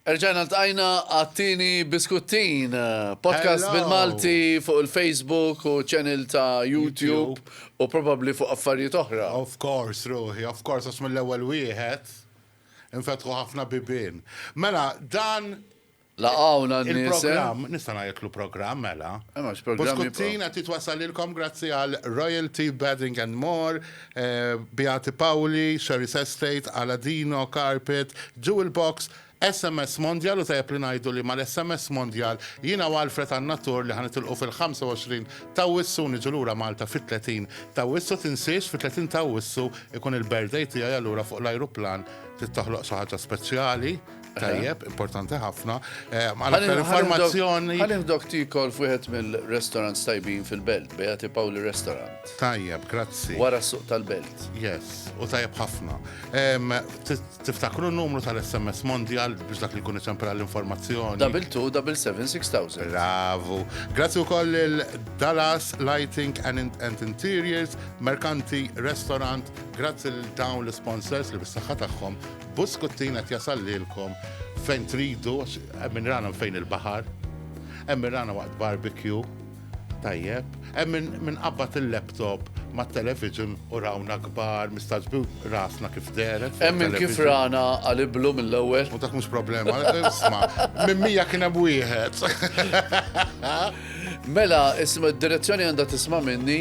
Erġajna ltqajna għat-tieni Biskuttin, podcast bil-Malti fuq il-Facebook u channel ta' YouTube u probabbli fuq affarijiet oħra. Of course ruħi, of course għax mill-ewwel wieħed infetħu ħafna bibien. Mela dan il-programm, nista' ngħidlu programm mela, Biskuttin qed jitwassalilkom grazzi għal Royalty Bedding and More, Beati Paoli, Sherry's Estate, Aladino, Carpet, Jewel Box, SMS Mondial u tajjeb li ngħidu li mal-SMS Mondial jiena u Alfred għandna tour li ħa nitilqu fil-25 t'Awwissu u niġu lura Malta fit-30 t'Awwissu tinsiex fit-30 t'Awwissu ikun il-birthday tiegħi allura fuq l-ajruplan trid toħloq xi ħaġa speċjali Tajjeb, importanti ħafna. Eh, Għal aktar informazzjoni. Għal dok tikol fuħet mill-restaurant tajbin fil-belt, Beati Pauli Restaurant. Tajjeb, grazzi. Wara suq tal-belt. Yes, u tajjeb ħafna. Tiftakru n-numru tal-SMS Mondial biex dak li kun iċempera l-informazzjoni. Double 2, double 7, 6000. Bravo. Grazzi u koll il-Dallas Lighting and, and Interiors, Mercanti Restaurant, grazzi l-dawn l-sponsors li bis-saħħa tagħhom Buskuttin qed jasal lilkom fejn tridu, hemm min rana fejn il-baħar, hemm min rana waqt barbecue, tajjeb, hemm min qabbad il-laptop ma' television u rawna kbar, mistaġbi rasna kif deret. Hemm minn kif rana għaliblu mill-ewwel. U dak mhux problema, isma, minn mija kien hemm wieħed. Mela, isma, d-direzzjoni għandha tisma' minni.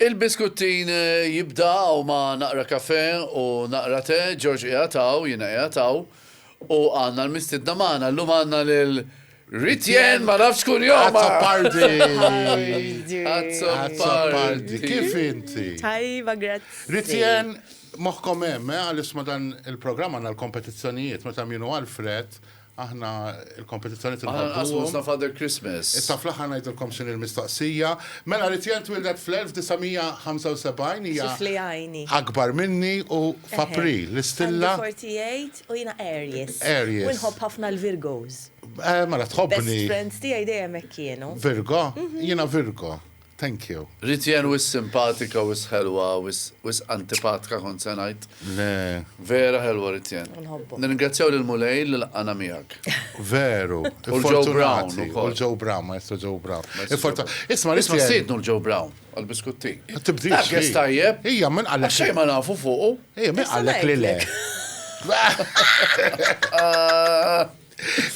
Il-biskuttin jibda hawn ma' naqra kafè u naqra te, George qiegħed hawn, jiena qiegħed hawn, u għandna l-mistiedna magħna. Llum għandna lil Ritienne ma nafx kunjomha! Azzopardi! Azzopardi! Azzopardi! Kif inti? Tajba, grazzi. Ritienne, moħħkom hemm, eh, għaliex ma' dan il-programm għandna l-kompetizzjonijiet, meta Minu Alfred Aħna il-kompetizzjoni tinħabbu. Aħna nqasmu ħafna Father Christmas. Issa fl-aħħar ngħidilkom x'inhi l-mistoqsija. Mela Ritiel twildet fl-1975 hija. Xi fliegħini. Akbar minni u f'April l-istilla. Għandi 48 u jiena Aries. Aries. U nħobb ħafna l-Virgos. Mela tħobbni. Best friends tiegħi dejjem hekk kienu. Virgo? Jiena Virgo. Thank you. Rit jien wisq simpatika wisq ħelwa wisq wisq antipatka kont se ngħid. Le. Vera ħelwa Rit jien. Inħobbok. Nirringrazzjaw lil Mulej li laqqana miegħek. Veru. U l-Joe Brown Fortunati. ukoll. U l-Joe Brown, Maestro Joe Brown. Maestro Joe Fortu- Brown. Isma' Rit Isma' jien. stidnu l-Joe Brown għall-biskutti. Ma tibdilx, Dak jess hi. tajjeb. Hija, min qalek- Għax xejn ma nafu fuqu. Ejja, min Issa qalek li le? ngħidlek.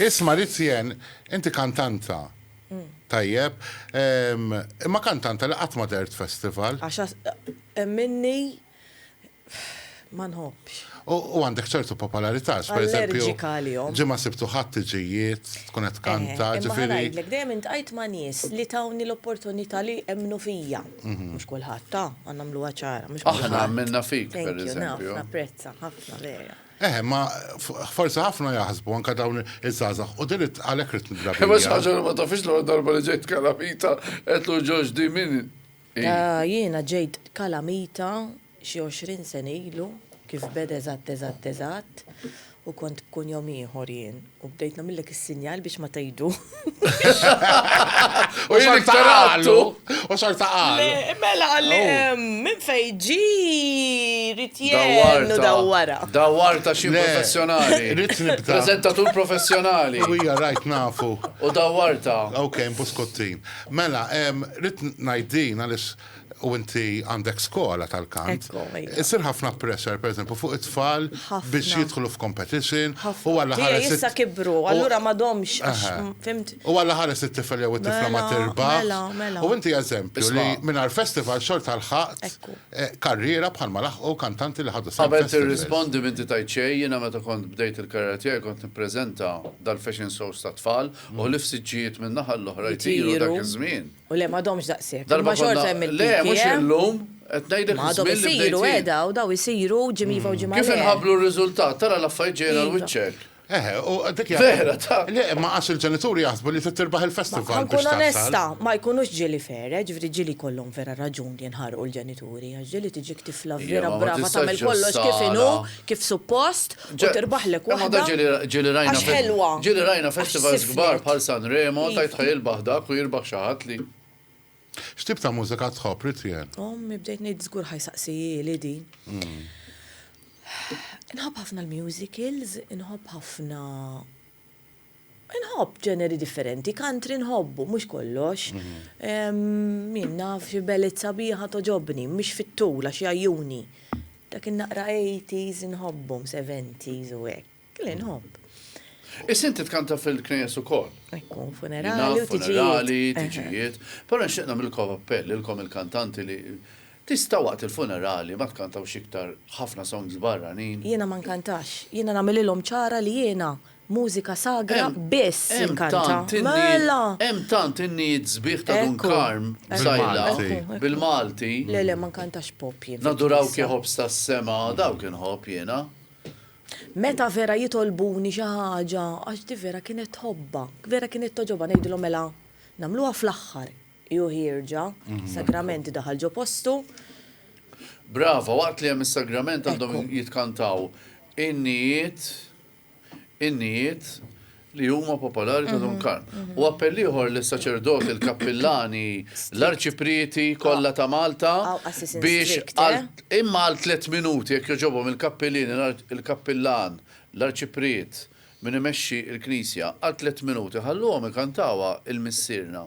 Isma' Rit jien, inti kantanta. Tajjeb. Imma kantanta li qatt ma dehret festival. Għax hemm minni ma nħobbx. U għandek ċertu popolarità, għax pereżempju. Allerġika għalihom. Ġimgħa Sibt u Ħadd tiġi jgħid, tkun qed tkanta, ġifieri. Imma ħa ngħidlek, dejjem intqajt ma' nies li tawni l-opportunità li emmnu fija. Mhux kulħadd, ha, ħa nagħmluha ċara, mhux kulħadd. Aħna emmilna fik, pereżempju. Thank you, naf, napprezza, ħafna, vera. Eħe, ma forsi ħafna jaħsbu anka dawn iż-żgħażagħ u din għalhekk rid nidrabi. Ma xaġa ma tafix l darba li ġejt kalamita qed lu ġoġ di min. Ah, jiena ġejt kalamita xi 20 sena ilu kif beda eżatt eżatt eżatt u kont b'kunjom ieħor jien. U bdejt nagħmillek is-sinjal biex ma tgħidu. U jien iktar għallu. U xorta għallu. Mela għalli oh. minn fejn ġi rrit jennu dawwara. Dawwarta xi professjonali. Rrit nibda. Prezentatur professjonali. U hija rajt nafu. U dawwarta. Ok, mpuskottin. Mela, rrit ngħid din għaliex u inti għandek skola tal-kant, isir ħafna pressure, per eżempju, fuq it-tfal biex jidħlu f'competition u għalla ħares. Issa kibru, allura ma domx, fimt? U għalla ħares it-tifel jew it-tifla ma tirba. Mela, mela. U inti eżempju li minn għal-festival xort għal-ħat eh, karriera bħal ma laħqu kantanti li ħadu s Għabel t-rispondi minn titajt xej, jina meta kont bdejt il-karriera tijaj kont n-prezenta dal-fashion shows ta' tfal u l-ifsiġġijiet minn naħal l-oħra jtiru dak iż-żmien. U le m'għadhomx daqshekk. Darba konna, le mhux illum, qed ngħidlek iż-żmien li bdejt jien. Ma għadhom isiru eh daw, daw isiru ġimgħa iva u ġimgħa le. Kif inħabblu r-riżultat, tara l-affarijiet ġejjin għal wiċċek. Eħe, u dik hija. Vera, ta. Le, imma għax il-ġenituri jaħsbu li trid tirbaħ il-festival biex tasal. Ħa nkun onesta, ma jkunux ġieli fair, eh, ġifieri ġieli jkollhom vera raġun li jinħarqu l-ġenituri, għax ġieli tiġik tifla vera brava tagħmel kollox kif inhu, kif suppost, u tirbaħlek waħda għax ħelwa. Ġieli rajna festivals kbar bħal Sanremo, tajt ħaj ilbaħ dak u jirbaħ xi ħadd li. X'tip ta' mużika tħobb, Ritien? Ommi bdejt ngħid żgur ħa jsaqsihieli din. Inħobb ħafna l-musicals, inħobb ħafna. Inħobb ġeneri differenti, country nħobbu, mhux kollox. Min naf xi beled sabiħa togħġobni, mhix fit-tul għax jgħajjuni. Dak in-naqra eighties inħobbhom, seventies u hekk. Le nħobb. Issa inti tkanta fil-knejjes ukoll. Ikun funerali u tiġijiet. Funerali, tiġijiet. Però nixtieq nagħmilkom appell lilkom il-kantanti li tista' waqt il-funerali ma tkantawx iktar ħafna songs barranin. Jiena ma nkantax. Jiena nagħmililhom ċara li jiena Mużika sagra biss inkanta. Mela! Hemm tant in-nijiet sbieħ ta' Dun Karm b'sajla, bil-Malti. Le le, ma nkantax pop jien. Nadurawk ya ħobż tas-sema, dawk inħobb jiena. Meta vera jitolbuni xi ħaġa, għax di vera kienet tħobbha, vera kienet togħġobha, ngħidilhom mela nagħmluha fl-aħħar. Hi u ħierġa, sagrament daħal ġo postu. Brava, waqt li hemm is-sagrament għandhom jitkantaw in-nijiet. innijiet li huma popolari ta' Dun mhm, Karm. Mhm. U appell ieħor lis saċerdoti l-kappillani, l-arċiprieti kollha ta' Malta biex eh? imma għal tliet minuti jekk joġobhom il-kappillin, il-kappillan, l-arċipriet minn imexxi il-Knisja għal tliet minuti ħalluhom ikantawa il-missirna.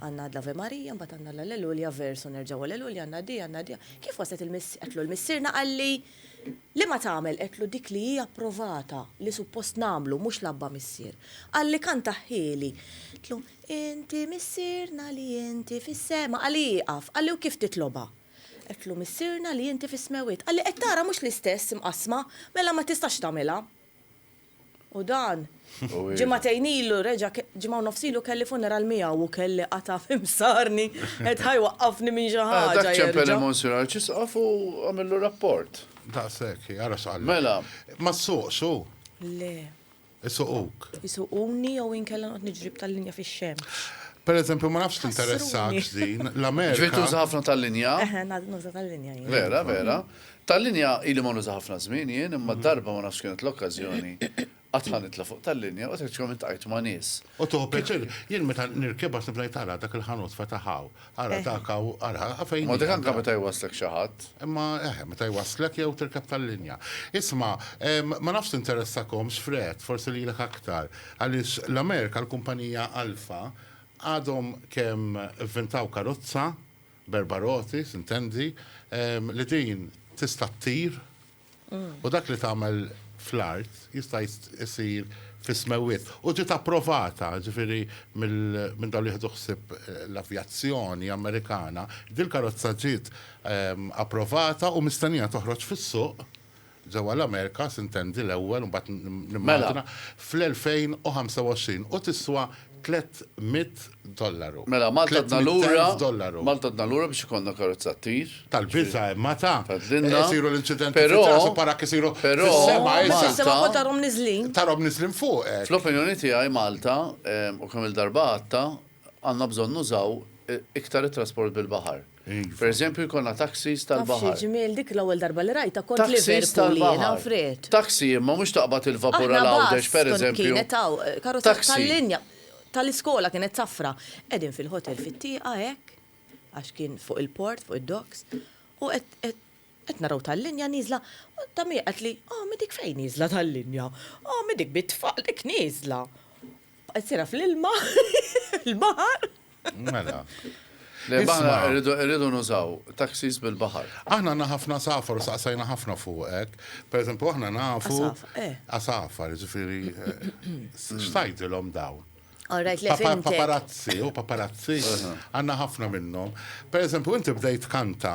Għandna l-Ave Maria, mbagħad għandna l-Alleluja, vers u nerġgħu Alleluja, għandna di, għandna di. Kif waslet il-miss, għedtlu l-missierna qalli, Liema tagħmel? Għedtlu dik li hi approvata, li suppost nagħmlu, mhux l-Abba Missier. Qalli kantahhieli. Għedtlu, Inti Missierna li inti fis-sema. Qalli ieqaf. Qalli u kif titlobha? Għedtlu, Missierna li inti fis-smewwiet. Qalli qed tara mhux l-istess imqassma, mela ma tistax tagħmilha. U dan, ġimagħtejn ilu reġa' ġimgħa u nofs ilu kelli funeral miegħu u kelli qatgħa fi msarni qed ħa jwaqqafni minn xi ħaġa jerġa'. Dak ċempel il-Monsinjur Arċisqof u għamillu rapport. Daqshekk, ara x'qal. Mela. Ma ssuqx hu? Le. Isuquk? Isuquni jew inkella noqgħod niġri b'tal-linja fix-xemx. Pereżempju, ma nafx tinteressakx din, l-Amerika. Ġifieri tuża ħafna tal-linja? Eħe, nuża tal-linja jien. Vera, vera. Tal-linja ili ma nuża ħafna żmien jien imma darba ma nafx kienet l-okkażjoni qatt ħa nitla' fuq tal-linja u tħeġġkom iltqajt ma' nies. U tieħu pjaċir. Jien meta nirkeb għad nibda ngħid ara dak il-ħanut fetaħ hawn, ara dak hawn, ara fejn hi. Ma dik anke meta jwasslek xi ħadd. Imma eħe, meta jwasslek jew tirkeb tal-linja. Isma', ma nafx tinteressahomx Fred, forsi lilek aktar, għaliex l-Amerika l-kumpanija Alfa għadhom kemm ivvintaw karozza b'erba' roti, tintendi, li din tista' ttir u dak li tagħmel fl-art jista' jsir fis-smewwiet. U ġiet approvata, jiġifieri minn dawk li jieħdu ħsieb l-avjazzjoni Amerikana, dil-karozza ġiet approvata u mistennija toħroġ fis-suq ġewwa l-Amerika, sintendi, l-ewwel u mbagħad nimmaġina, fl-2025 u tiswa tlett mitt dollaru. Mela Malta għadna lura, Malta għadna lura biex ikollna karozza ttir. Tal-biża' imma ta'. Tgħidlilna. Isiru l-inċidenti fit-traqs u parak isiru fis-sema issa. Però Malta. Però tarhom niżlin. Tarhom niżlin fuq hekk. Fl-opinjoni tiegħi Malta, u kemm-il darba għadtha, għandna bżonn nużaw iktar it-trasport bil-baħar. Iva. Pereżempju jkollna taxis tal-baħar. Taf xi ġmiel dik l-ewwel darba li rajtha kont Liverpool jiena friet. Taxi imma mhux taqbad il-vapur għal Għawdex pereżempju. Kienet hawn karozza tal-linja tal-iskola kienet safra. Qegħdin fil-hotel fit-tieqa hekk għax kien fuq il-port, fuq id-docks, u qed Qed naraw tal-linja nieżla, u ta' min qed li, oh mi dik fejn nieżla tal-linja, oh mi dik bit-tfal dik nieżla. Baqgħet sejra fl-ilma, il-baħar. Mela. Le aħna rridu nużaw taxis bil-baħar. Aħna għandna ħafna għasafar u saqsajna ħafna fuqek. Pereżempju aħna nafu. Għasafar, ġifieri. X'tgħidilhom dawn? Paparazzi, u paparazzi għandna ħafna minnhom. Pereżempju inti bdejt kanta.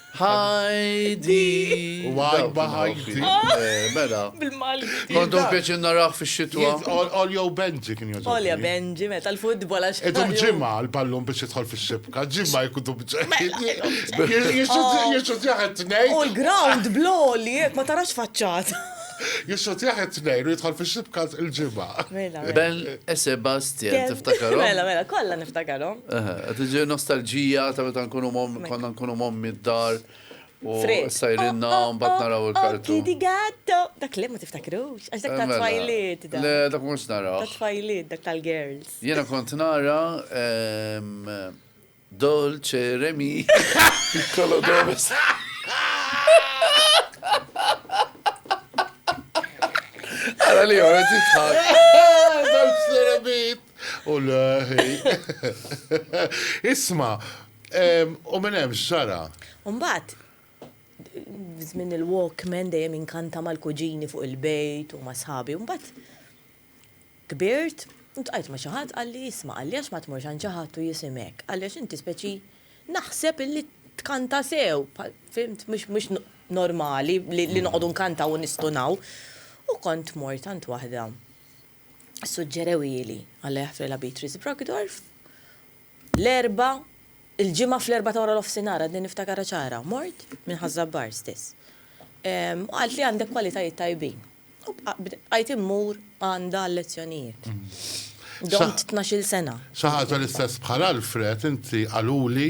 Ħajdi! U għajba ħajdi. Mela. Bil-Malti. Għandu pjaċir naraħ fix-xitwa. Olja u Benji kien jgħodu. Olja Benji, mela tal-futbol għax. Idum ġimgħa l-ballun biex jidħol fix-xibka, ġimgħa jkunu bġeħ. Jixu ġeħ it-tnejn. U l-ground bl-oli, ma tarax faċċata. Jixxutjah it-Tnejn u jidħol fix-xibka il-Ġimgħa. Mela, mela. Ben e Sebastian, tiftakarhom? Mela, mela, kollha niftakarhom. Aha, qed tiġi nostalġija ta' meta nkunu mom, konna nkunu mommi d-dar. U Fred. sajrinna Oh, oh, mbagħad naraw oh, oh, il-kartu. Kitty Gatto. Dak le ma tiftakrux, għax dak ta' Mela, twajliet dak. Le, dak mhux Ta' naraw. twajliet dak tal-girls. Jiena kont nara ehm, Dolce re mi, piccolo dove sta. Ara li għora titħak. Dolce re mi. U l-ħi. Isma, u minn hemm xara. Umbat, żmien il-Walkman dejjem inkanta mal-kuġini fuq il-bejt u ma' sħabi. Umbat, Kbirt, u ltqajt ma' xi ħadd qalli, isma' qalli għax ma tmurx għand xi ħadd u jisimek, qalli għax inti speċi naħseb illi tkanta sew, bħal fhimt, mhux normali li noqogħdu nkantaw u nistunaw. U kont mort għand waħda ssuġġerewieli, Alla jaħfrilha Beatrice Brockdorff, L-Erbgħa, il-Ġimgħa fl-erbgħa ta' waranofsinhar, għadni niftakarha ċara, mort minn Ħaż-Żabbar stess. U qalt li għandek kwalitajiet tajbin. U bqajt immur għandha għal-lezzjonijiet. Domt tnax-il sena. Xi ħaġa l-istess bħal Alfred, inti qaluli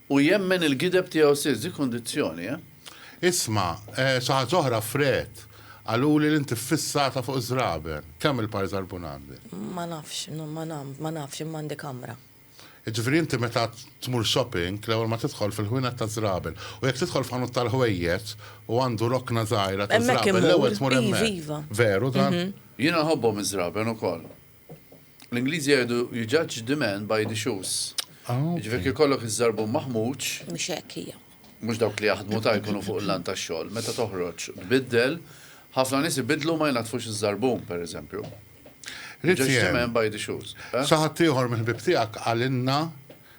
U jemmen il-gideb tiegħu stess. Dik kundizzjoni, eh? Isma', xi ħaġa oħra, Fred. Qaluli li int iffissata fuq iż-żraben. Kemm il-par żarbun għandek? Ma nafx, ma nafx, imma għandi kamra. Jiġifieri inti meta tmur shopping, l-ewwel ma tidħol fil-ħwienet taż-żraben. U jekk tidħol f'ħanut tal-ħwejjeġ u għandu rokna żgħira taż-żraben, l-ewwel tmur hemmhekk. Hemmhekk immur, iva, iva. Veru dan? Jiena nħobbhom iż-żraben ukoll. L-Ingliżi jgħidu you judge the man by the shoes. Ah, Ġifieri kif kollok iż-żarbun maħmuġ. Mhux hekk hija. Mhux dawk li jaħdmu ta' jkunu fuq il-lan tax-xogħol. Meta toħroġ tbiddel, ħafna nies ibiddlu ma jnaddfux iż-żarbun, pereżempju. Judge the man by the shoes. Sa ħaddieħor mill-ħbieb tiegħek qalilna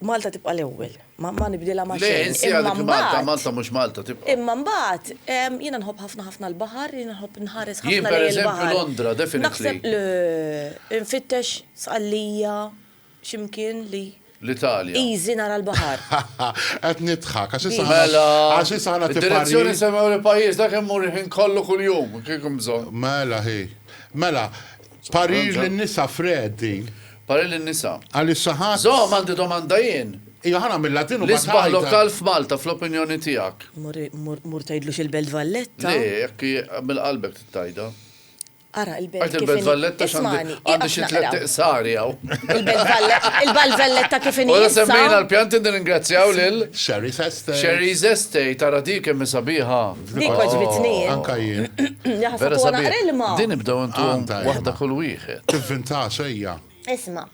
Malta tibqa' l-ewwel. Ma ma nibdilha ma' Le, xejn. insieha Imma dik Malta, mbagħad, Malta mhux Malta tibqa'. imma mbagħad, ehm, jiena nħobb ħafna ħafna l-baħar, jiena nħobb nħares Jien, ħafna lejn pereżempju, il-baħar. Londra, definitely. Naħseb l, infittex Sqallija, xi mkien li, L-Italja. easy nara l-baħar. Qed nidħak, għax issa aħna, Mela, għax issa aħna id-direzzjoni tiparji. nsemmew li pajjiżna kien mmur il-ħin kollu kuljum, kieku hemm bżonn. Mela, ħi. Mela, Parir lin-nisa, Fred, din. Parir lin-nisa. Għalissa ħadd. Żomm, għandi domanda jien. Iva, ħa nagħmilha din u mbagħad tgħidha. L-isbaħ lokal f'Malta, fl-opinjoni tiegħek? Mur tgħidlu xi l-Belt Valletta. Le, jekk minn qalbek trid tgħidha. Ara l-Belt Valletta. Tgħid il-Belt Valletta x'għandi. Għandi xi tliet iqsari hawn. Il-Belt Valletta kif inhi. Ora semmejna l-pjanti nirringrazzjaw lil. Sherry's Estate. Sherry's Estate, ara dik kemm hi sabiħa. Dik oh, għaġbitni. Anka jien. Vera sabi. Din ibdaw intom waħda kull wieħed. Tivvinta sejja. Isma.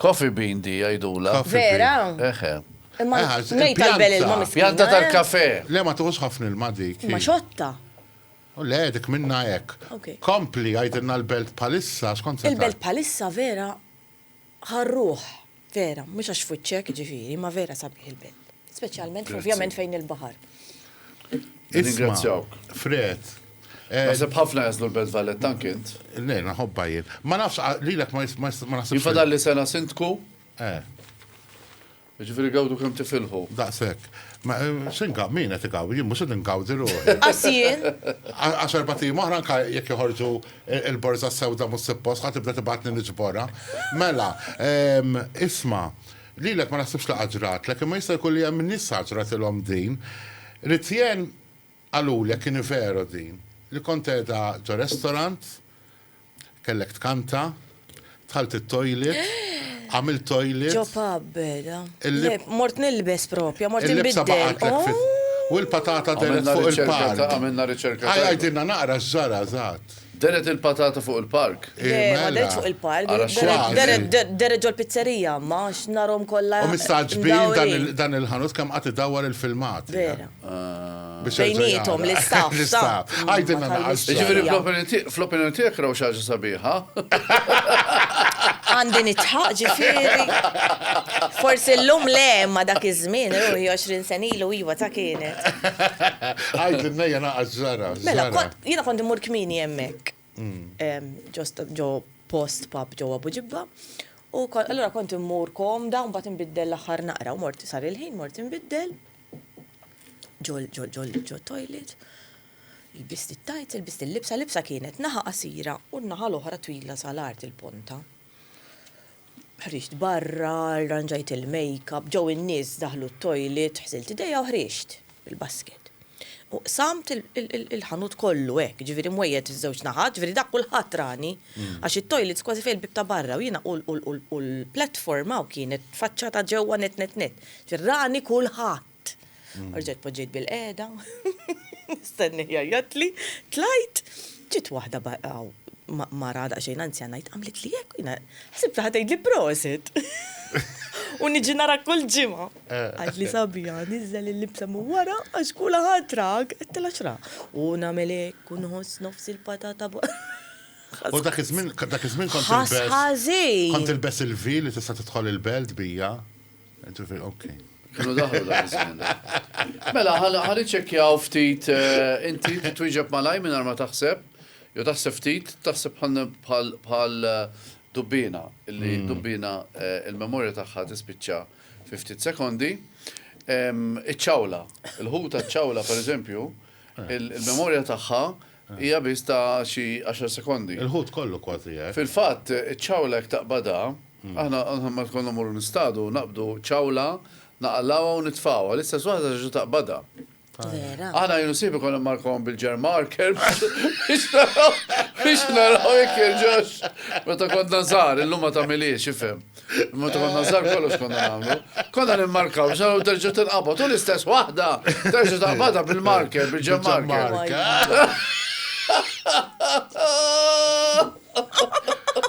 Coffee bean di għajdula. Vera. Eħe. Imma nejt tal-bel il-ma miskina. Pjanta tal-kafe. Eh? Le ma tuqus ħafna il-ma dik. Ma xotta. U le, dik minna ek. Kompli għajdilna l-belt palissa, skont Il-belt palissa vera Ħa r-ruħ, vera, mhux għax f'wiċċek, jiġifieri, imma vera sabiħ il-belt. Speċjalment, ovvjament, fejn il-baħar. Nirringrazzjawk. Fred. Eh, Naħseb ħafna jażlu l-Belt Valletta anke int. Le, naħobba jien. Ma nafx, ah, lilek ma jis- ma jis- ma naħsibx. Jifadal li sena sindku, Eh. Jiġifieri gawdu kemm tifilħu. Daqshekk. Ma se ngawdi, min qed igawdi? Jien mhux qed ingawdi ruħi. Qas jien. Għax erbat ijiem oħra anke jekk joħorġu l-borża sewda mhux suppost ħa tibda tibgħatni niġborha. Mela, isma', lilek ma naħsibx li qatt ġratlek, imma jista' jkun li hemm nies sa ġratilhom din. Ritijen Qalulek kieni veru din. Li kont qiegħda ġo restaurant, kellek tkanta, dħalt it-toilet, għamilt toilet. Ġo pub beda. Le, mort nilbes propja, mort inbiddel. Il-libsa baqgħatlek fit. U l-patata dehret fuq il-pan. Għamilna riċerka tajba. Għidilna naqra x'ġara eżatt. Deret il-patata fuq il-park? Le, ma deretx fuq il-park. Deret ġol-pizzerija, imma, għax narhom kollha mdawrin. U mistagħġbin dan il-ħanut kemm qatt idawwar il-filmati. Vera. Bejniethom, l-istaff. L-istaff. Għidilna naqra. Jiġifieri fl-opinjoni tiegħek raw xi ħaġa sabiħa? Għandi nidħaq, ġifieri. Forsi llum le, imma dak iż-żmien, ruħi, għoxrin sena ilu, iva, ta' kienet. Għidilna hija naqas ġara. Mela, Jiena kont immur kmieni hemmhekk ġost ġo post pub ġewwa Buġibba u allura kont immur komda u mbagħad inbiddel l-aħħar naqra u mort sar il-ħin mort inbiddel ġol ġol ġol ġo toilet. Ilbist it-tajts, ilbist il-libsa, libsa kienet naħa qasira u n-naħa l-oħra twila sal-art il-ponta. Ħriġt barra, rranġajt il-makeup, ġew in-nies daħlu t-toilet, ħsilt idejja u ħriġt bil-basket. U qsamt il-ħanut kollu hekk, ġifieri mwejjed iż-żewġ naħat, ġifieri dak kulħadd rani, għax it-toilets kważi fejn il-bieb ta' barra u jiena u l-platform hawn kienet faċċata ġewwa nett nett nett. Rani kulħadd! Tlajt. Rġajt poġġejt bil-qeda. Stenni jajjatli. Tlajt. Ġiet waħda baqaw mara daqsxejn anzjana jitqamlet li jekk jina. Ħsib taħt li prosit. U niġi nara kull ġimgħa. Eh. Għad li sabija, niżel il-libsa mu wara għax kula ħatrak, għettela xra. U namelek, u nħoss nofs il-patata U dak iż-żmien kont il-bess. Kont il-bess il-vi li tista' tidħol il-belt bija. Kienu daħlu dak iż-żmien. Mela, ħa niċċekkjaw ftit eh, inti twieġeb malaj minn ma taħseb, jew taħseb ftit, taħseb bħal eh, dubbina, illi hmm. dubbina eh, il-memorja tagħha tispiċċa fi ftit sekondi. Iċ-ċawla, il-ħuta ċawla per eżempju, il-memorja tagħha Hija biss ta' xi għaxar sekondi. Il-ħut kollu kważi hekk. Fil-fatt, iċ-ċawla jekk taqbadha, aħna meta konna mmorru nistadu, naqbdu ċawla, naqalgħuha u nitfgħuha. L-istess waħda terġa' taqbadha. Vera. Aħna jien u sieħbi konna mmarkawhom bil-jar marker biex naraw biex naraw jekk jerġgħux. Meta konna żgħar, illum ma tagħmilhiex, ifhem. Ma ta' konna zar kollox konna għamlu. Konna nimmarkaw, xaw terġa tinqabad, u l-istess wahda, terġa taqbada bil-marker, bil-ġem marker.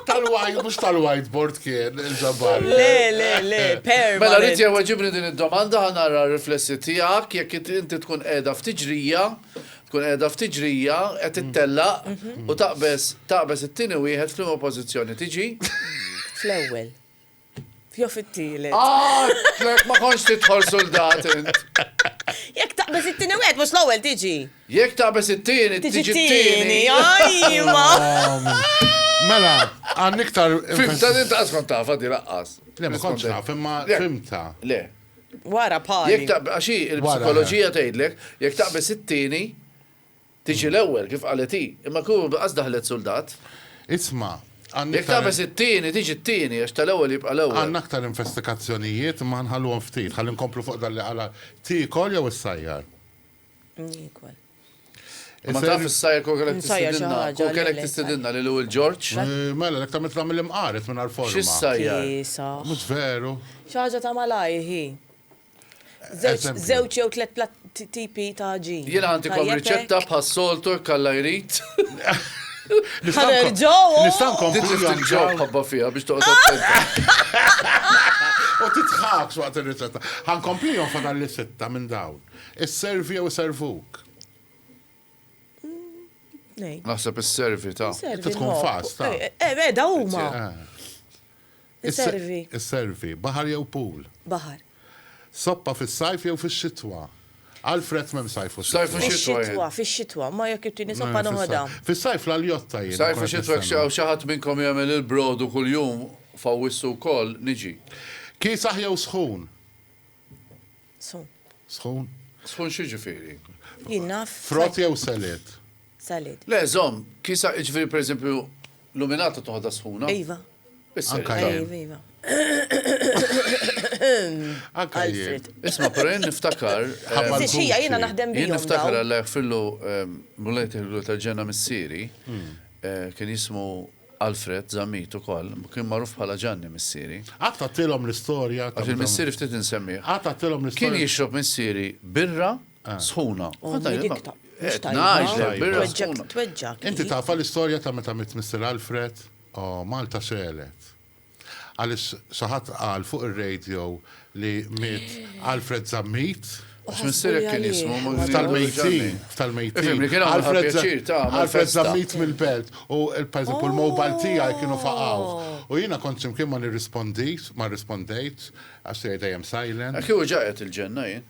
Tal-white, mux tal-whiteboard kien, il-ġabbar. Le, le, le, per. Mela rrit jew ġibni din id-domanda, ħanara riflessi tijak, jek inti tkun edha f'tiġrija, Tkun qiegħda ftit ġrija, qed tittellaq u taqbeż taqbeż it-tieni wieħed f'liema pożizzjoni tiġi? Fl-ewwel. Jew fit-tielet. Għadtlek ma kontx tidħol suldat int! Jekk taqbeż it-tieni wieħed mhux l-ewwel tiġi. Jekk taqbeż it-tieni tiġi t-tieni. Ajwa! Mela, għandna iktar. Fimta din ta' qatt kont tafha di laqqas. Le ma kontx naf, imma fimta. Le. Wara pali. Jekk taqb, għax hi l-psikoloġija tgħidlek, jekk taqbeż it-tieni, tiġi l-ewwel, kif qalet hi. Imma kieku qas daħlet suldat. Isma', għandna. Jekk taqbeż it-tieni, tiġi t-tieni, għax tal-ewwel jibqa' l-ewwel. Għandna aktar infestikazzjonijiet, imma ħa nħalluhom ftit. Ħalli nkomplu fuq dan li qal Għala tiekol jew issajjar? Ma taf s-sajja kol kellek tistidinna, kol kellek tistidinna li l-ewel Ġorġ. Mela, l-ek tamil tamil imqaret minn għal-forma. Xis-sajja? Mux veru. ċaġa ta' malaj, hi. Zewċ jew tlet plat tipi ta' ġi. Jena għanti kom riċetta bħas soltu kalla jrit. Nistan ġow. Nistan kom bħal ġow. Ħabba fija biex toqgħod. U titħaks waqt il-riċetta. Għan komplijon fadal li sitta minn dawn. Isservi jew iservuk? Ngħid. Naħseb isservi ta. Servi. Inti tkun fast, ta. Eh, eh, eh, da huma. Isservi. Isservi. Baħar jew pool? Baħar. Soppa fis-sajf jew fix-xitwa? Alfred mem sajf u Sajf u xitwa. Fix-xitwa, ma jekk irtini soppa noħodha. Fis-sajf l-aljotta jien. Sajf u xitwa xaw xaħat minnkom jagħmel il-brodu kuljum fawissu wkoll niġi. Kiesaħ jew sħun? Sħun. Sħun? Sħun xi ġifieri? Jien naf. Frott jew salid? Salid. Le, żomm, kisa ġifieri pereżempju luminata toħodha sħuna? Iva. Anka jien. Iva, iva. Anka jien. Isma, però jien niftakar. Xija, jiena naħdem bih. Jien niftakar għalla jaħfillu mulejt il-għlu tal-ġenna missieri, hmm. eh, kien jismu Alfred Zammit ukoll kien magħruf bħala Ġanni missieri. Qatt għadtilhom l-istorja ta' Għax il-missieri ftit insemmih. Qatt għadtilhom l-istorja. Kien jixrob missieri birra sħuna. U kont ngħidilhom dik ta' mhux tajba. Qed ngħidlek birra sħuna. Tweġġgħek hi. Inti tafha l-istorja ta' meta miet Mister Alfred? Oh, Malta xegħlet. Għaliex xi ħadd qal fuq ir-radio li miet Alfred Zammit? Għax missierek kien jismu Ftal-mejtin, ftal-mejtin. Alfred Zammit mill-belt u pereżempju l-mobile tiegħi kienu faqgħu. U jiena kont x'imkien ma nirrispondix, ma rrispondejtx għax tiegħi dejjem silent. Kieku ġaqgħet il-ġenna jien.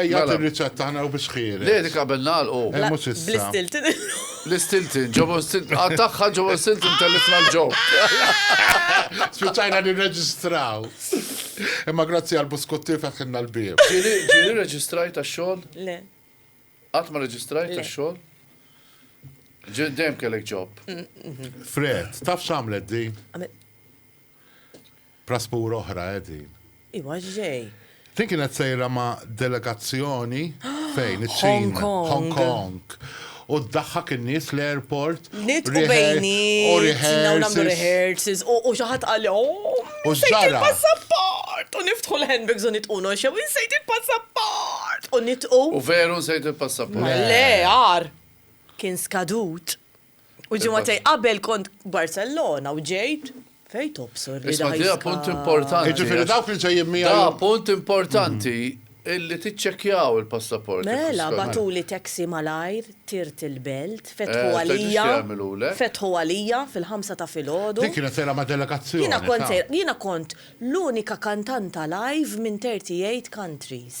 Ejja Mela. tir-riċetta ħna u biex ħieles. Le dik qabel nagħlqu. Eh, mhux issa. Bl-istiltin illum. L-istiltin, ġobon stiltin, għattaxħa ġobon stiltin tellifna l-ġo. Spiċajna nirreġistraw. Imma grazzi għal buskuttir fetħinna l-bib. Ġiri, ġiri reġistrajt għax-xogħol? Le. Qatt ma reġistrajt Le. għax-xogħol? Ġi dejjem kellek ġob. Fred, taf x'għamlet din? Għamil- Prasbur oħra eh din. Iwa x'ġej? Din kienet sejra ma' delegazzjoni fejn iċ-Ċina, Hong Kong. U ddaħħak in-nies l-airport. Nitqu bejnietna u nagħmlu rehearsals u xi ħadd qal U x'ġara? Passaport! U niftħu l-handbags u nitqu noxew insejt il-passaport! U nitqu. U veru nsejt il-passaport. Le, għar. Kien skadut. U ġimgħatej qabel kont Barcellona u ġejt fejn tobsor li Isma' dija punt importanti. Jiġifieri dawk li ġejjin miegħi. Da punt importanti illi tiċċekkjaw il-passaport. Mela batuli taxi malajr tirt il-belt, fetħu għalija. Fetħu għalija fil-ħamsa ta' filgħodu. Dik kienet sejra ma' delegazzjoni. Jiena kont sejra, jiena kont l-unika kantanta live minn 38 countries.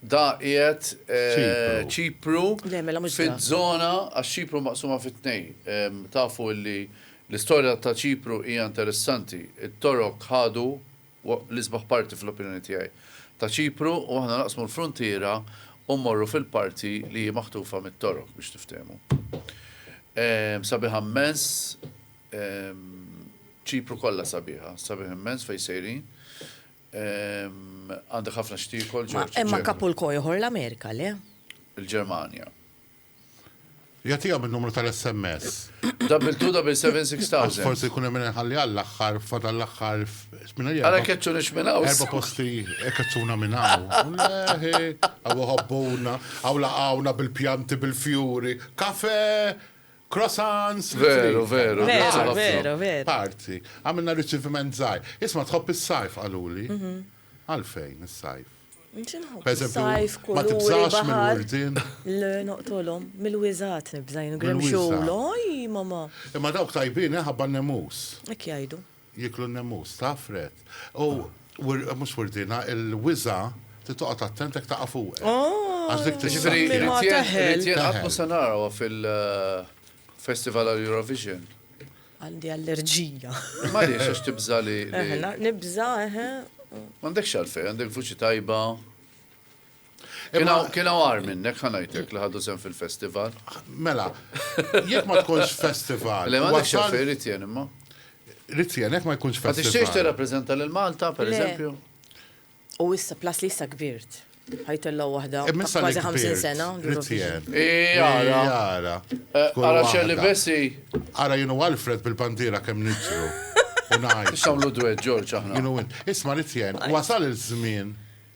Da qiegħed Ċipru fiż-żona, għax Ċipru maqsuma fi tnejn. Tafu li l-istorja ta' Ċipru hija interessanti. It-Torok ħadu l-isbaħ parti, fl-opinjoni tiegħi, ta' Ċipru u aħna naqsmu l-fruntiera u mmorru fil-parti li hi maħtufa mit-Torok, biex tiftehmu. Sabiħa immens, Ċipru kollha sabiħa, sabiħ immens fejn sejrin. Għandek ħafna x'tiekol, Ġorġ. Ma imma kapu l-koj ieħor l-Amerika, le? Il-Ġermanja. Jagħtiha min-numru tal-SMS. Double two, double seven, six thousand. Forsi jkun hemm inħalli għall-aħħar, fadal l-aħħar. Għala keċċunix minn hawn. Erba' posti keċċuna minn hawn. Leħi, għaw ħabbuna, għaw laqawna bil-pjanti, bil-fjuri, kafe, Croissants li trid. Veru, veru, Veru, grazzi ħafna. veru, veru. Parti. Għamilna riċiviment żgħir. Isma' tħobb is-sajf qaluli. Għalfejn is-sajf? Nġi nħobb Pereżempju, is-sajf, ma kuluri, tibżax baħar. mill-wurdien? Le, noqtolhom. Mill-wiżgħat nibża' jien, Mill-wiżgħat. grimxul. Oj, mamma! Imma dawk tajbin, eh, ħabba n-nemus. Hekk jgħidu. Jieklu n-nemmus, taf, Red? U, mhux wirdina, il-wiża' trid toqgħod attent jekk taqa' fuqek. Għax dik tissakkja. Jiġifieri ma teħel. Jien qatt mhu se narawha fil-Festival għall-Eurovision. Għandi allerġija. M'għaliex, għax tibża' li. Nibża', eħe. M'għandekx għalfejn, għandek vuċi tajba. Kien għar minnek ħanajtek li ħadu sem fil-festival. Mela, jek ma tkunx festival. Le ma tkunx xafi Ritjen imma. Ritjen, jek ma jkunx festival. Tixtiex tirrappreżenta lil Malta, per eżempju? U issa plas li issa kbirt. Ħajtellaw waħda. E, kważi 50 sena. Ritjen. Jara. Jara. Ara e, xelli bessi. Ara jenu Alfred bil-pantiera kemm nitru. Unaj. Xamlu dwed, Ġorġ, aħna. Jenu Isma Ritjen, wasal il-żmien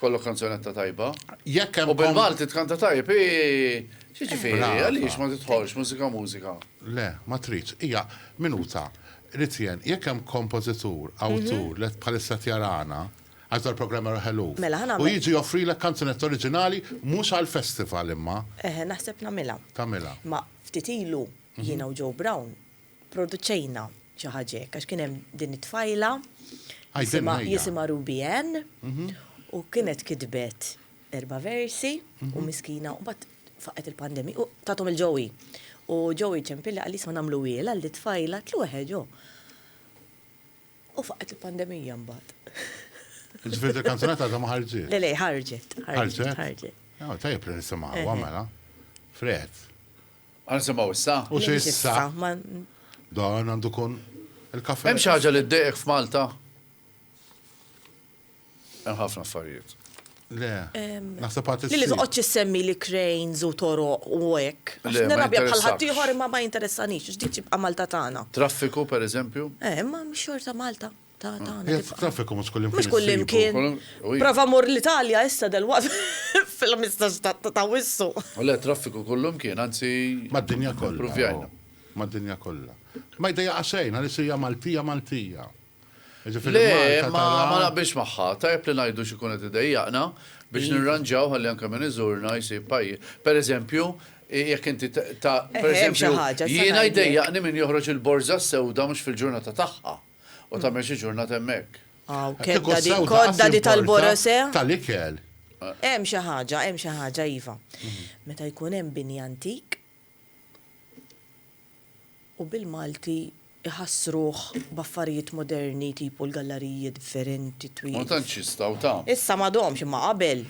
Kollok kanzunetta tajba. Jekk hemm. U bil-Malti tkanta tajb, xi ġifieri, għaliex ma tidħolx mużika mużika? Le, ma tridx. Hija minuta. Rrid jien, jekk hemm kompożitur, awtur li bħalissa qed jarana, għax dal-programm jarah eluf, u jiġi joffrilek kanzunetta oriġinali mhux għall-festival imma. Naħseb nagħmilha. Tagħmilha. Imma ftit ilu jiena u Joe Brown pproduċejna xi ħaġa hekk għax kien hemm din it-tfajla jisimha Ruby Ann mhm. u kienet kitbet erba' versi u mhm. miskina u bat faqet il-pandemija u tatom il-ġowi. U ġowi ċempilli għalli sma namlu għil għalli tfajla tlu ġo. U faqet il-pandemija mbagħad. Ġifieri il-kanzunetta ta' ma ħarġet. Le le ħarġet. Ħarġet. Ħarġet. Tajjeb li nisimgħu għamela. Fred. Għansimaw issa? U xissa? Dan għandu kun il-kafe. Hemm xi ħaġa li ddejqek f'Malta? Hemm ħafna affarijiet. Le, naħseb għat Li li toqgħodx issemmi li cranes u toroq u hekk. Għax nirrabja bħal ħadd ieħor imma ma jinteressanix, x'dik tibqa' Malta tagħna. Traffiku pereżempju? Eh, imma xorta Malta. Ta' ta' ta'. Qiegħed traffiku mhux kullimkien. Mhux kullimkien. Prova mur l-Italja issa delwaqt fil-ħmistax ta' Awwissu. U le traffiku kullimkien, anzi. Mad-dinja kollha. Ippruvjajna. Mad-dinja kollha. Ma jdejjaqha xejn għaliex hija Maltija Maltija. Jiġifieri Malta tara. Le, ma naqbilx magħha. Tajjeb li ngħidu x'ikun qed idejjaqna biex nirranġaw ħalli anke min iżurna jsib pajjiż. Pereżempju, jekk inti ta', pereżempju, jiena jdejjaqni min joħroġ il-borża s-sewda mhux fil-ġurnata tagħha. U tagħmel xi ġurnata hemmhekk. Aw, kedda di, kodda di tal-borose. Tal-ikel. Hemm xi ħaġa, hemm xi ħaġa iva. Meta jkun hemm bini antik u bil-Malti iħassruh b'affarijiet moderni tipu l-gallariji differenti twil. Ma tantx jistgħu ta. Issa m'għadhomx imma qabel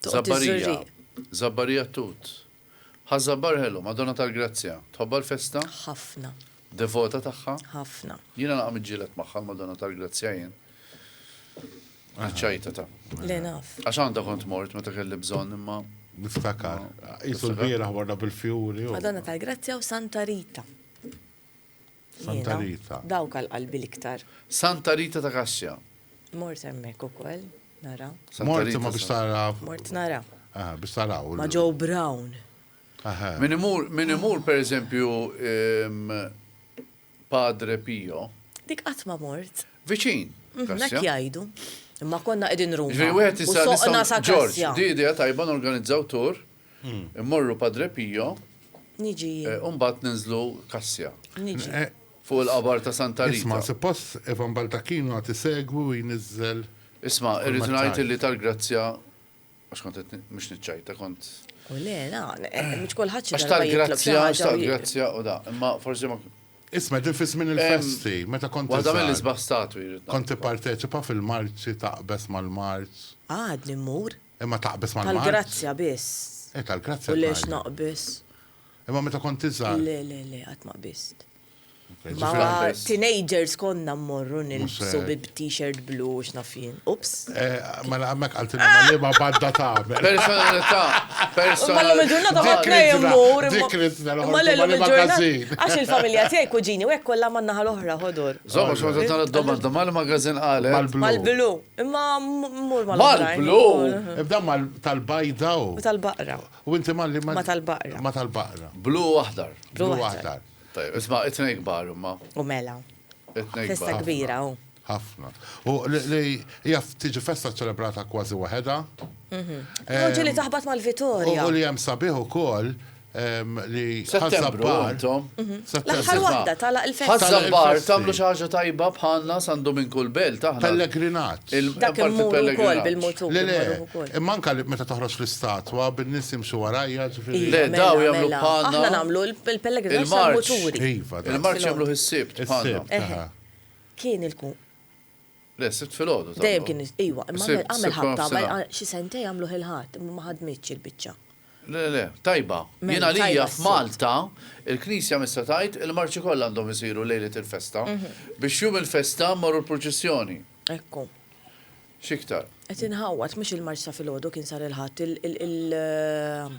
Żabbarija, żabbarija t-tut. Ħa żabbar ħelu, Madonna tal-Grazzja. Tħobbha l-festa? Ħafna. Devota tagħha? Ħafna. Jiena naqa' miġġieled magħha l-Madonna tal-Grazzja jien. Ċajta ta'. Le naf. Għax għandha kont mort meta kelli bżonn imma. Niftakar. Qisu l-bieraħ warna bil-fjuri. Madonna tal-Grazzja u Santa Rita. Santa Rita. Dawk għal qalbi l-iktar. Santa Rita ta' Kassja. Mort hemmhekk ukoll, nara. Mort ma biex tara. Mort nara. Ah, biex tara. Ma ġew Brown. Min imur, min imur per eżempju Padre Pio. Dik qatt ma mort. Viċin. Mhm, dak jgħidu. Imma konna qegħdin Ruma. Ġej wieħed issa Ġorġ, di idea tajba norganizzaw tur. Immorru Padre Pio. Niġi jien. U mbagħad ninżlu Kassja. Niġi. Fuq il-qabar ta' Santa Rita. Isma', suppost Ivan Baldacchino għad isegwi u jniżżel. Isma', irrid ngħid illi tal-grazzja, għax kont qed mhux niċċajta, kont. U le, la, mhux kulħadd xi darba jitlob xi ħaġa. Għax tal-grazzja, tal-grazzja u da, imma forsi ma. Isma' din fi żmien il-festi, meta kont. Waħda mill-isbaħ statwi. Kont tipparteċipa fil-marċi taqbeż mal-marċ. Għadni mmur. Imma taqbeż mal-mard. Tal-grazzja biss. Eh, tal-grazzja. U lex naqbeż. Imma meta kont tiżgħar. Le, le, le, qatt ma qbiżt. Ma teenagers konna mmorru nilbsu bi t-shirt blu x'nafin. Ups. Eh, mela hemmhekk għal tinna ma liema badda ta' Personalità. Mela miġurna ta' ħafna jemmur. Ma l Għax il-familja tiegħi kuġini u hekk kollha man-naħa l-oħra ħodur. Żomma xorta tal-domanda mal-magazin qalet. Mal-blu. Imma mmur mal-oħrajn. Mal-blu! Ibda mal tal-bajda u. U tal-baqra. U inti malli ma. Ma tal-baqra. Ma tal-baqra. Blu u aħdar. Blu u aħdar. Tajjeb, isma' it-tnejn kbar imma. U mela. It-tnejn kbar. Festa kbira u. Ħafna. U li hija tiġi festa ċċelebrata kważi waħedha. U ġieli taħbat mal-Vitorja. U li hemm sabiħ ukoll li Ħaż-Żabbar. L-aħħar waħda tagħlaq il-festi. Ħaż-Żabbar tagħmlu xi ħaġa tajba bħalna San Duminku l-Belt aħna. Pellegrinat. Dak immur ukoll bil-mutur. Le le, imma anke meta toħroġ l-istatwa bin-nies jimxu warajja ġifieri. Le daw jagħmlu bħalna. Aħna nagħmlu l-pellegrinat tal-muturi. Il-marċ jagħmlu ħis-Sibt bħalna. Kien il-kun. Le, s-Sibt filgħodu tagħmluh. Dejjem kien is-, ejwa, imma għamel, għamel ħabta, xi sentejn għamluh il-Ħadd, imma ma ħadmitx il-biċċa. Le, le, tajba. Jien għalija f'Malta, il-Knisja missa tgħid il-marċi kollha għandhom isiru lejlet il-festa, biex jum il-festa mmorru l-purċissjoni. Ekku. X'iktar. Qed inħawwad, mhux il-marċ ta' filgħodu kien sar il-Ħadd, il-,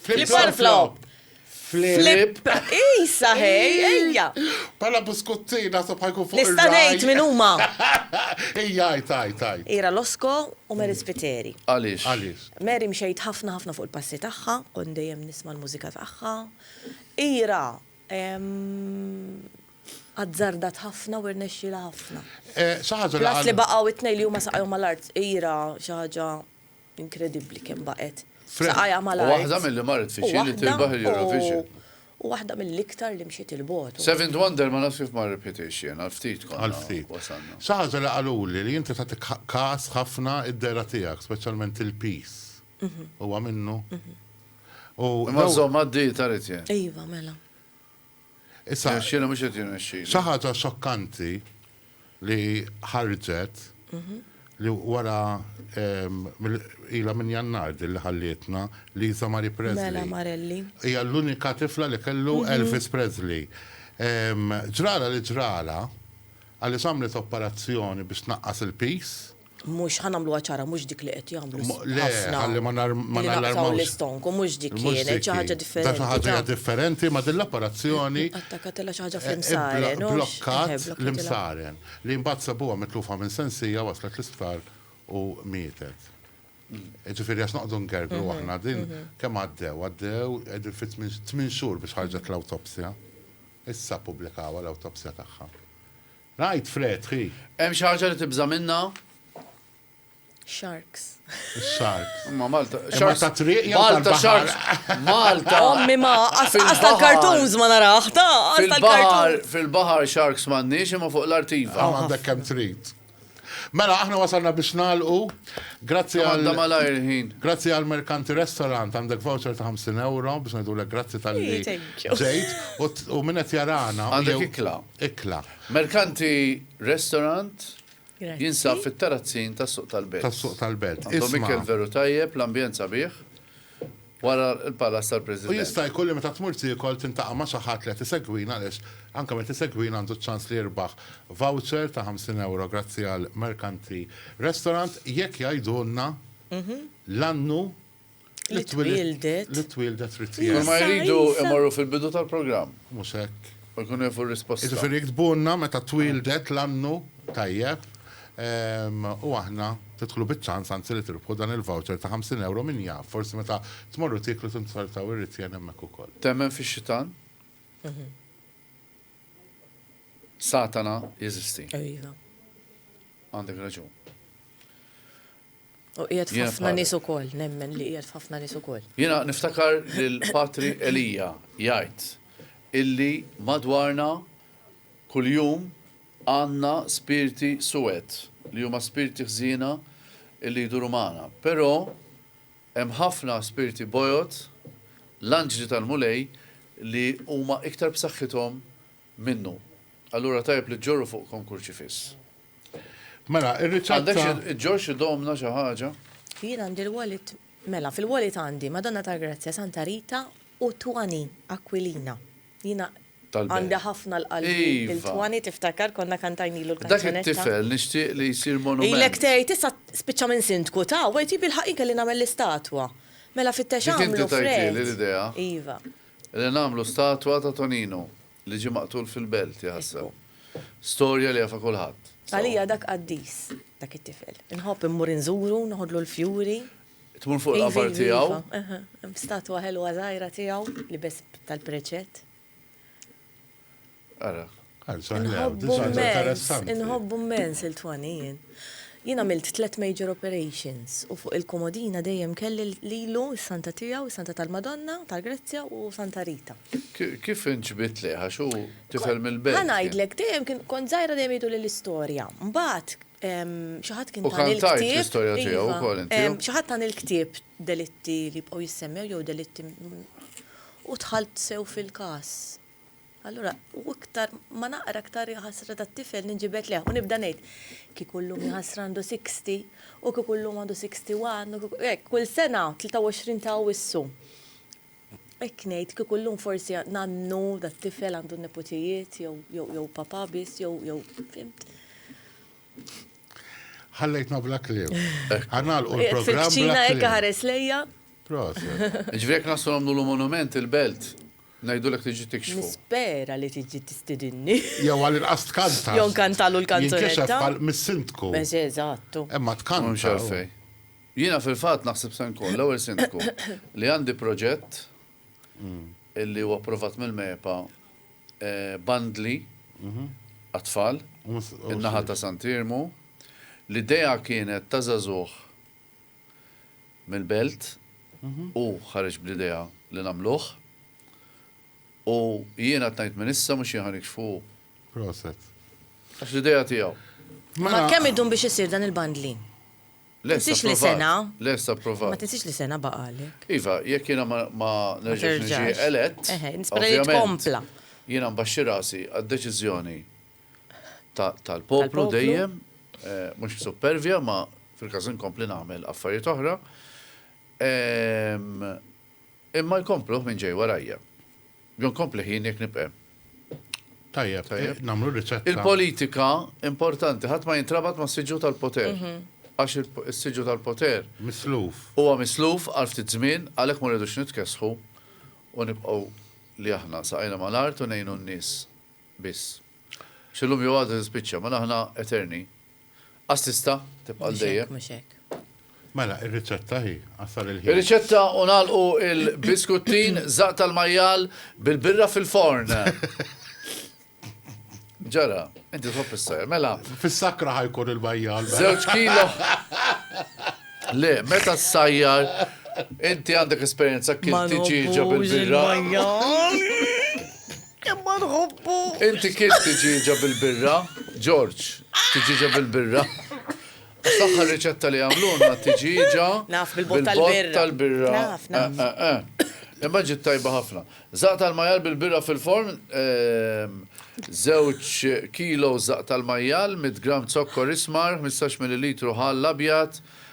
Flip flop. Flip. Isa, hej, ejja. Pala buskuttin, nasab ħajkun fuq. Nista' ngħid min huma. Ejja, taj, taj. Ira Losko u Mary Spiteri. Għaliex? Għaliex. Mary mxejt ħafna ħafna fuq il-passi tagħha, kon dejjem nisma' l-mużika tagħha. Ira azzardat ħafna u rnexxila ħafna. Eh, Xaħġa li. Għas li baqgħu it-tnej li huma saqgħu mal-art, ira xaħġa Inkredibbli kemm baqgħet b'saqajha mal-art. U waħda milli marret fiċ-Ċin li tirbaħ il-Eurovision. U waħda mill-iktar li mxiet 'il bogħod. Seventh Wonder ma nafx kif ma rebħitiex jien, għal ftit konna wasalna. Xi ħaġa li qaluli li inti tagħti kas ħafna id-dehra tiegħek, speċjalment il-piż. Huwa minnu? Imma żomm għad-dieta rrid jgħid. Iva, mela. Issa, Jirnexxilha mhux qed jirnexxilha. xi ħaġa xokkanti li ħarġet li wara ehm, mill- ilha minn Jannar din li ħallietna Lisa Marie Presley. Mela Marelli. Hija l-unika tifla li kellu Elvis Presley. Ehm, Ġrala li ġrala, għaliex għamlet operazzjoni biex tnaqqas il-piż Mhux ħa nagħmluha ċara mhux dik li qed jagħmlu. Mo- le, ħafna. ħalli ma nar- ma Li naqtaw nallarmawx. l-istonk u mhux dik Mhux kienet xi dik. ħaġa Da differenti. xi ħaġa ta. differenti ma' din l-apparazzjoni Attakatela xi ħaġa eh, fl-imsaren. blo- u x- eh, blokkat blokkatela. l-imsaren li mbagħad sabuha mitlufa minn sensija waslet l-isptar u mietet. Ġifieri għax noqogħdu ngergru aħna din kemm għaddew għaddew qegħdin fi tmien tmien xhur biex ħarġet l-awtopsja. Issa ppubblikawha l-awtopsja tagħha. Ngħid Fred, hi. Hemm xi ħaġa li tibża' minnha? Sharks. Sharks. Imma Malta. Sharks ta' triq jew tal-baħar. Malta sharks. Malta. Ommi ma, għas tal-kartons ma naraħ, ta' għas tal-kartons. Fil-baħar sharks m'għandniex imma fuq l-artiva. Għaw għandek kemm trid. Mela, aħna wasalna biex nalqu. Grazzi għal. malajr ħin. Grazzi għal Merkanti Restaurant, għandek voucher ta' 50 euro biex ngħidulek grazzi tal-li. Ġejt, u minnet jarana. Għandek ikla. Ikla. Mercanti Restaurant jinsab fit-Tarazzin tas-Suq tal-Belt. Tas-Suq tal-Belt. Għandhom Isma'. ikel veru tajjeb, l-ambjent sabiħ, wara l-Palas U tal-President. jista' jkun li meta tmur tiekol tintaqa' ma' xi ħadd li qed isegwina għaliex anke min qed isegwina għandu ċ-ċans li jirbaħ voucher ta' 50 ewro grazzi għal Mercanti Restaurant jekk jgħidulna l-annu Li twieldet. Li twieldet trid tgħid. Kull ma jridu imorru fil-bidu tal-programm. Mhux hekk. U jkunu jafu r-risposta. Jiġifieri iktbulna meta twieldet l-annu tajjeb u aħna tidħlu biċ-ċans anzi li tirbħu dan il-voucher ta' 50 ewro min jaf, forsi meta tmorru tieklu tinzortaw ir-ritjen hemmhekk ukoll. Temmen fix-xitan? Satana jeżisti. Iva. Għandek raġun. U qiegħed f'ħafna nies ukoll, nemmen li qiegħed f'ħafna nies ukoll. Jiena niftakar lil Patri Elia jgħid illi madwarna kuljum għandna spirti suwed li huma spirti ħżiena illi jduru magħna. Però hemm ħafna spirti bojod, l-anġli tal-Mulej, li huma iktar b'saħħithom minnu. Allura tajjeb li ġġorru fuqkom kurċifiss. Mela, ir-riċetta. Għandekx iġġorr xi domna, xi ħaġa? Jien għandi l-wallet, mela, fil-wallet għandi Madonna tal-Grazzja, Santa Rita u Twani, Aquilina. Jiena għandi ħafna l-qalbi il-Twani, tiftakar konna kantajnilu l-kanzunetta. Dak it-tifel nixtieq li jsir monument. Ilek tgħid issa spiċċa minn sindku ta' u għid jibbilħaq jien kelli nagħmel l-istatwa. Mela fittex għamlu fred. Dik inti tajtili l-idea. Iva. Li nagħmlu statwa ta' Tonino li ġie maqtul fil-belt, iħasseb. Storja li jafha kulħadd. Għalija dak qaddis, dak it-tifel. Inħobb immur inżuru, noħodlu l-fjuri. Tmur fuq il-qabar tiegħu? Iva, iva, iva. Hemm statwa ħelwa żgħira tiegħu, libes tal-preċett. Ara. Inħobbu mmens il-twani jien. Jien għamilt tlet major operations u fuq il-komodina dejjem kelli lilu s-Santa tiegħu, Santa tal-Madonna, tal-Grezzja u Santa Rita. Kif inġbidt lejh għax hu tifel mill-belt? Ħa ngħidlek, dejjem kont żgħira dejjem jgħidu li l-istorja. Mbagħad xi ħadd kien tani l-ktieb. Xi ħadd tani l-ktieb delitti li jibqgħu jissemmew jew delitti u dħalt sew fil-każ. Allura, u iktar ma naqra iktar ħasra tat-tifel ninġibed lejh u nibda ngħid, kieku llum jaħasra għandu 60, u kieku llum għandu 61, u kieku, hekk, kull sena, 23 ta' Awwissu. Hekk ngħid, kieku llum forsi nannu dat-tifel għandu n-neputijiet jew papà biss jew, jew, fimt? Ħallejtna bla kliem. Għanalqu l-programm. Ċina ekka ħares lejja. Ġvek nasu għamlu l-monument il-belt. Najdu l-ek tiġi tikxfu. Nispera li tiġi tistidinni. Jew għal il-qas tkanta. Jew kantalu l-kanzunetta. Jinkixef għal mis-sindku. Beż, eżattu. Emma tkanta. Mux għalfej. Jina fil-fat naħseb sen kun, l-ewel sindku, li għandi proġett illi huwa approvat mill-MEPA bandli għat-tfal in-naħa ta' Sant' Iermu. L-idea kienet ta' żagħżugħ mill-belt, hu ħareġ bl-idea li nagħmluh u jien għad ngħid minn issa mhux jien ħa nikxfu hu. Proset. Għax l-idea tiegħu. Ma kemm idum biex isir dan il-bandli? Tinsiex li sena. Lest approvat. Ma tinsiex li sena baqgħalek. Iva, jekk jiena ma nerġax niġi elett. Eħe, nispera li tkompla. Jiena nbaxxi rasi għad-deċiżjoni tal-poplu dejjem, mhux b'suppervja, ma fil-każ inkompli nagħmel affarijiet oħra. Imma jkompluh min ġej warajja. Jew nkomplih jien jekk nibq' hemm. Tajjeb, tajjeb. Nagħmlu riċetta. Il-politika importanti ħadd ma jintrabat mas-siġġu tal-poter. Għax is-siġġu tal-poter. Misluf. Huwa misluf għal ftit żmien, għalhekk ma rridux nitkessħu u nibqgħu li aħna saqajna mal-art u ngħinu n-nies biss. Għax illum jew għada tispiċċa, mela aħna eterni. Assista, tibqa' għal dejjem. Mhux hekk. Mela, ir-riċetta hi, għasal il-ħin. Ir-riċetta u nagħlqu il-biskuttin zaq tal-majjal bil-birra fil-forn. Ġara, inti tħobb is-sajr, mela. Fis-sakra ħajkun il-bajjal. Mela. Żewġ kilo. Le, meta s-sajjar, inti għandek esperjenza kif tiġiġa bil-birra. Imma nħobbu! Inti kilt tiġieġa bil-birra, George, tiġieġa bil-birra. Għax l-aħħar riċetta li għamlulna tiġieġa bil-bott tal-birra. Naf, naf, naf. Imma ġiet tajba ħafna. Żaqq tal-majjal bil-birra fil-forn, żewġ kilos żaqq tal-majjal, mitt gramm zokkor ismar, ħmistax millilitru ħall abjad,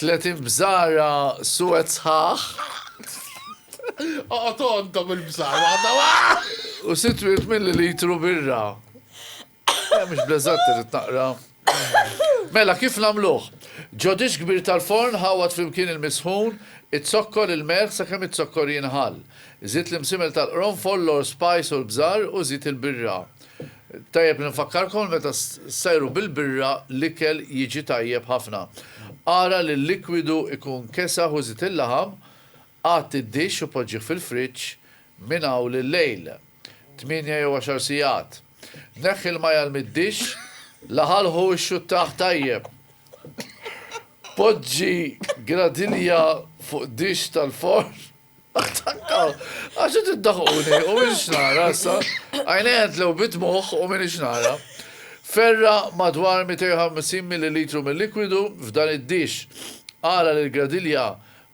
30 bżara suwed sħaħ. Oqgħod għandhom il-bżara waħda waħda. U sitt wirt millilitru birra. Eh, mhux bleżat irid naqra. Mela, kif nagħmluh? Ġodix kbir tal-forn ħawat flimkien il-misħun, it-zokkor il-melħ sakemm it-zokkor jinħall. Żid l-imsimel tal-qronfol, l-or spice u l-bżar u żid il-birra. Tajjeb li nfakkarkom meta ssajru bil-birra l-ikel jiġi tajjeb ħafna. Ara li l-likwidu jkun kesaħ u żid il-laħam, għadd id-dixx u poġġih fil-friġġ minn hawn lil-lejl, tmienja jew għaxar sigħat. Neħħi l-majjal mid-dixx, laħalħu u xxuttah tajjeb. Poġġi gradinja fuq dixx tal-forn Għax qed iddaħquni u minix nara issa. Għajnejja ntlew bid-dmugħ u minix nara. Ferra' madwar 250 millilitru mil-likwidu f'dan id-dixx. Agħla lill-gradilja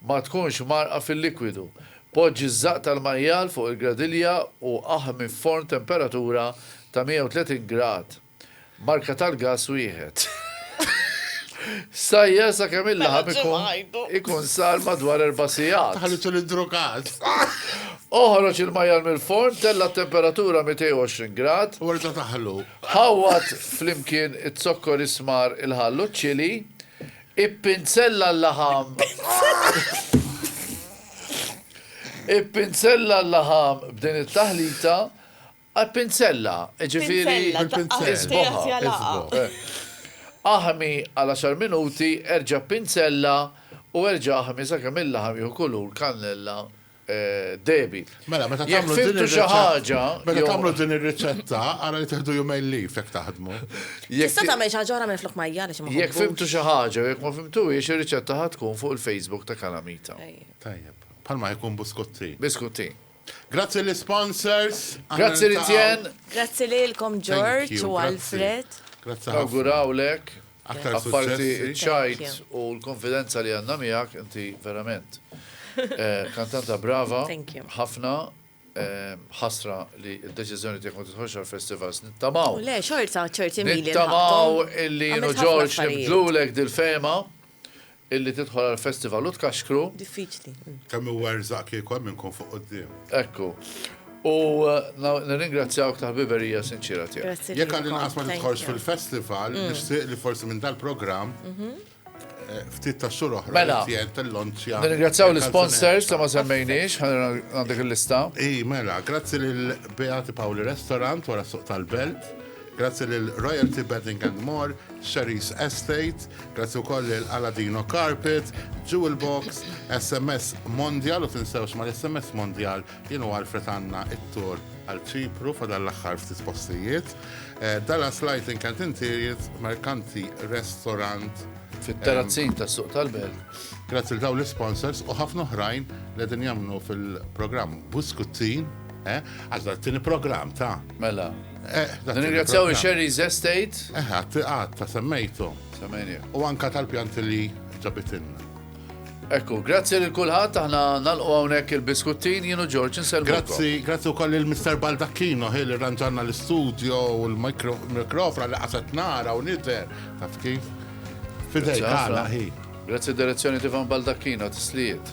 ma tkunx mgħarrqa fil-likwidu. Poġġi ż-żaqq tal-majjal fuq il-gradilja u aħmi f'forn temperatura ta' 130 grad. Marka tal-gass wieħed. Sajjar sakemm il-laħam ikun sar madwar erba' sigħat. Taħlitu l-idrukat. Oħroġ il-majjal mill-forn, tella' t-temperatura 220 grad. U erġa' taħlu. Ħawwad flimkien iz-zokkor is-smar, il-ħall u ċ-ċili. Ippinsella l-laħam. Ippinsella l-laħam b'din it-taħlita Għal pinzella, jiġifieri isboħha, isboħ. Aħmi għal għaxar minuti, erġa' pinzella u erġa' aħmi sakemm il-laħam jieħu kulur kannella dehbi. Mela, meta tagħmlu din ir-riċetta, meta tagħmlu din ir-riċetta, ara li tieħdu jumejn leave jekk taħdmu. Tista' tagħmel xi ħaġa oħra minflok ma hija għaliex ma nħobbux. Jekk fhimtu xi ħaġa jew jekk ma fhimtuhiex, ir-riċetta ħa tkun fuq il-Facebook ta' Calamita. Tajjeb. Bħalma ħa jkun buskuttin. Biskuttin. Grazzi l-isponsors. Grazzi Lizien. Grazzi lilkom George u Alfred. Grazzi ħafna. Nawgurawlek. Aktar suċċessi. Apparti ċ-ċajt u l-konfidenza li għandna miegħek, inti verament kantanta brava ħafna. Ħasra li d-deċiżjoni tiegħek ma tidħolx għall-festivals. Nittamaw. Le, xorta ċerti mili. Nittamaw illi George nibdlulek dil-fehma. Illi tidħol għall-festival u tkaxkru. Diffiċli. Kemm huwa rżaq kieku hemm min ikun fuq quddiem. Ekku. U nirringrazzjawk tal-ħbiberija sinċiera tiegħek. Grazzi lilkom. Jekk għall-inqas ma tidħolx fil-festival, nixtieq li forsi minn dal-programm ftit tax-xhur oħra Mela. li tien tillonċja. Nirringrazzjaw l-isponsors li ma semmejniex, ħa għandek il-lista. Ii, mela, grazzi lil Beati Paoli Restaurant wara s-Suq tal-Belt. Grazzi lil Royalty Bedding and More, Sherry's Estate, grazzi wkoll lil Aladino Carpet, Jewel Box, SMS Mondial, u tinsewx mal-SMS Mondial jien u Alfred għandna t-tour għal Ċipru fadal l-aħħar ftit postijiet. Eh, Dallas Lighting and Interiors, Mercanti Restaurant, Fit-terrazzin ta' suq tal-belt. Grazzi l daw l-sponsors u ħafna oħrajn li din jamnu fil-programm Buskuttin, eh, għax t-tini programm ta' Mela, Nirringrazzjaw il-Sherry's Estate. Eħe, għat ta' semmejtu. Semmejni. U anka tal-pjanti li ġabitinna. Ekku, grazzi lil kulħadd aħna nalqu hawnhekk il-biskuttin jienu Ġorġ inselmu. Grazzi, grazzi wkoll il Mr. Baldacchino ħil li ranġanna l-istudio u l-mikrofra li qasat nara u nidher taf kif. Fidej għala ħi. Grazzi direzzjoni Tivan Baldacchino tislijiet.